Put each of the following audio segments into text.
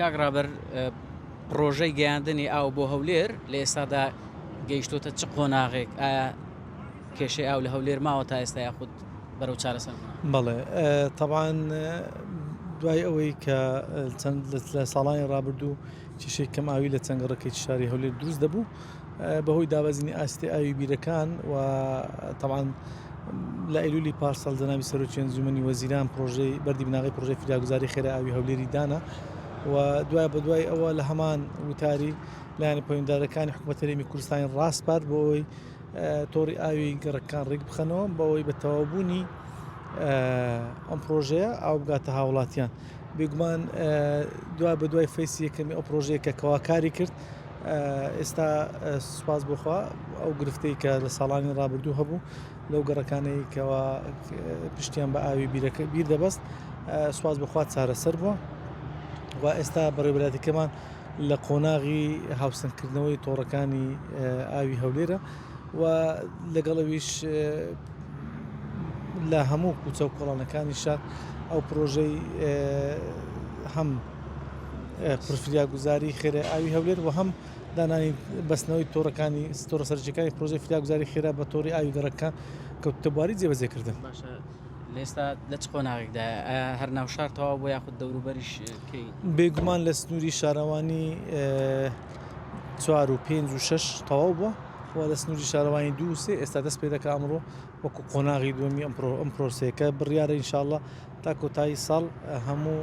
کاک ڕابەر پڕۆژەی گەیاندنی ئاو بۆ هەولێر لە ئێستادا گەیشتۆتە چ قۆناغێک ئایا کێشەی ئاو لە هەولێر ماوە تا ئێستا یاخود بەرەو چارەسەر بڵێ تەبان دوای ئەوەی کە چەند لە ساڵانی ڕابردوو کیشێک کەم ئاوی لە چەنگەڕەکەی شاری هەولێر دروست دەبوو بەهۆی دابەزینی ئاستی ئاوی بیرەکان و تەبعەن لە ئەیلولی پارسەڵ جەنابی سەرۆکی ئەنجومەنی وەزیران پرۆژەی بەردی بناغی پرۆژەی فریاگوزاری خێرا ئاوی هەولێری دانا و دوای بە دوای ئەوە لە هەمان وتاری لایەنە پەیوەندارەکانی حکوومەت هەرێمی کوردستانی ڕاستپات بۆی تۆڕی ئاوی گەڕەکان ڕێک بخەنەوە بەوەی بە تەواوبوونی ئەم پرۆژەیە ئاو بگاتە هاوڵاتیان بێگومان دوای بە دوای فەیسی یەکەمی ئەو پرۆژەیە کە کەواکاری کرد ئێستا سوپاس بۆ خوا ئەو گرفتەی کە لە ساڵانی ڕابردوو هەبوو لەو گەڕەکانەی کەوا پشتیان بە ئاوی بیرەکە بیر دەبەست سوپاس بۆ خوا چارەسەر بووە و ئێستا بەڕێبراتەکەمان لە قۆناغی هاوسەنگکردنەوەی تۆڕەکانی ئاوی هەولێرە و لەگەڵەویش لە هەموو کوچە و کۆڵانەکانی شار ئەو پرۆژەی هەم فریاگوزاری خێرای ئاوی هەولێر و هەم دانانی بەستنەوەی تۆڕەکانی ستۆرە سەرجەکانی پرۆژەی فریاگوزاری خێرا بە تۆڕی ئاوی گەڕەکە کەوتتەباری جێبەجێکردن باشە لێستا لە چ قۆناغێکدا هەر ناو شار تەواو بۆ یاخود دەوروبەریش بێگومان لە سنووری شارەوانی چوار و پێنج و شش تەواو بووە و لە سنووری شارەوانی دووسێ ئێستا دەست پێ دەکە ئەمڕۆ وەکو قۆناغی دومی ئەم پرۆسێکە بڕیاە ئینشاءله تا کۆتایی ساڵ هەموو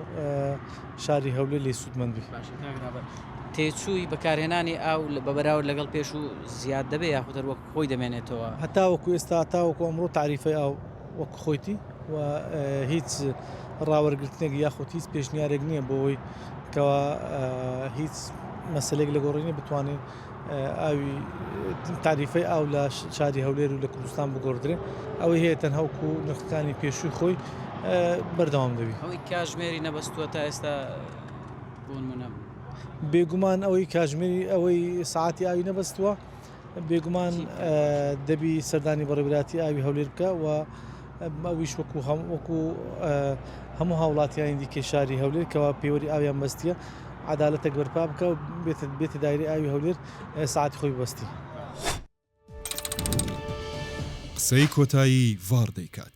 شاری هەولێری سوودمەند بێت. تێچووی بەکارهێنانی ئاو بە بەراورد لەگەڵ پێشوو زیاد دەبێت یاخود هەر وەک خۆی دەمێنێتەوە؟ هەتاوەکو ئێستا تاوەکو ئەمڕۆ تاریفەی ئاو وەک خۆیتی و هیچ ڕاوەرگرتنێک یاخود هیچ پێشنیارێک نییە بۆ ئەوەی کەوا هیچ مەسلێک لە گۆڕینی بتوانین ئاوی تاریفەی ئاو لە شاری هەولێر و لە کوردستان بگۆڕدرێ ئەوەی هەیە تەنها وەکو نرخەکانی پێشووی خۆی بەردەوام دەبی ئەوەی کاژمێری نەبەستووە تا ئێستا بوونمونە بێگومان ئەوەی کاژمێری ئەوەی ساعتی ئاوی نەبەستووە بێگومان دەبی سەردانی بەڕێبراتی ئاوی هەولێر بکە و ئەویش وەکو وەکو هەموو هاوڵاتیانی دیکەی شاری هەولێر کەوا پێوەری ئاویان بەستیە عدالەتێک بەرپا بکە و بێت بێتە دایری ئاوی هەولێر ساعتی خۆی بەستی قسەی کۆتایی ڤاڕ دەیکات.